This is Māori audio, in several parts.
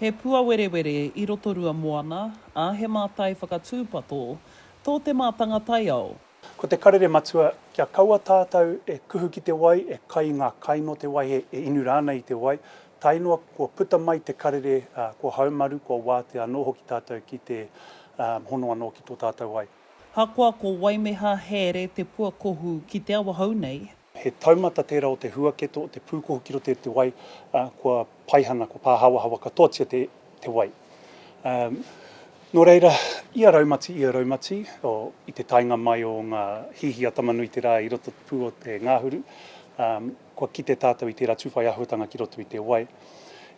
He puawerewere i Rotorua moana, ā, he mātai whakatūpato tō te mātanga taiao. Ko te karere matua, kia kaua tātau e kuhu ki te wai, e kai i ngā kai nō te wai, e inu rānei i te wai, tae noa kua puta mai te karere, kua haumaru, kua wātea anō hoki tātau ki te hono anō ki tō tātau wai. Ahakoa ko Waimeha Hēre Te Puakohu ki Te Awahou nei, He taumata tērā o te huaketo o te pūkohu ki roto i te wai, ā, kua paihana, kua pāhawahawa katoatia te, te wai. Ā, nō reira, ia raumati, ia raumati, o, i te taenga mai o ngā hihi a Tama-nui-te-rā i roto pū o te ngāhuru, ā, kua kite tātou i tērā tūwhai āhuatanga ki roto i te wai.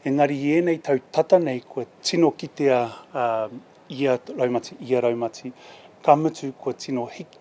Engari i ēnei tau tata nei kua tino kitea, ā, ia raumati, ia raumati, ka mutu kua tino hiki,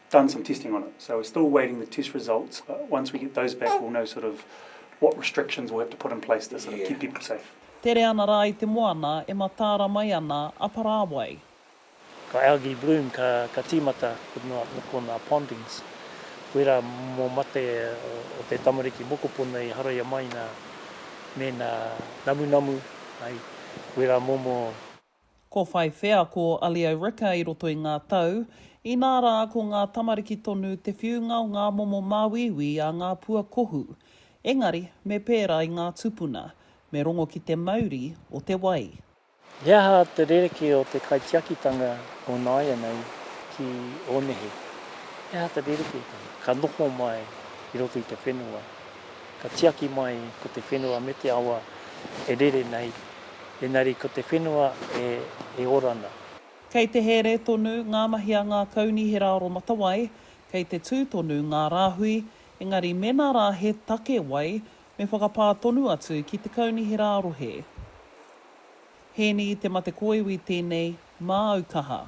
done some testing on it. So we're still awaiting the test results, but once we get those back, we'll know sort of what restrictions we'll have to put in place to sort of keep people safe. Tere ana rā i te moana e mataara mai ana a Parāwai. Ka algae bloom, ka, ka tīmata ko nā, ko nā pondings. Koirā mō mate o te tamariki mokopuna i haraia mai nā, mēnā namunamu, ai, koirā momo. Ko whai wheako a Leo Ricker i roto i ngā tau, inā rā ko ngā tamariki tonu te whiunga o ngā momo māuiui a ngā pua kohu. Engari, me pērā i ngā tupuna, me rongo ki te mauri o te wai. He aha te rerekē o te kaitiakitanga o nāianei ki Ōnehe? He aha te rerekētanga ka noho mai i roto i te whenua? Ka tiaki mai ko te whenua me te awa e rere nei, engari ko te whenua e ora ana. Kei te here tonu ngā mahi a ngā kaunihera aromatawai, kei te tū tonu ngā rāhui, engari mēnā rā he take wai, me whakapā tonu atu ki te kaunihera rohe. Hēni Te Mate Kōiwi tēnei, māu kaha.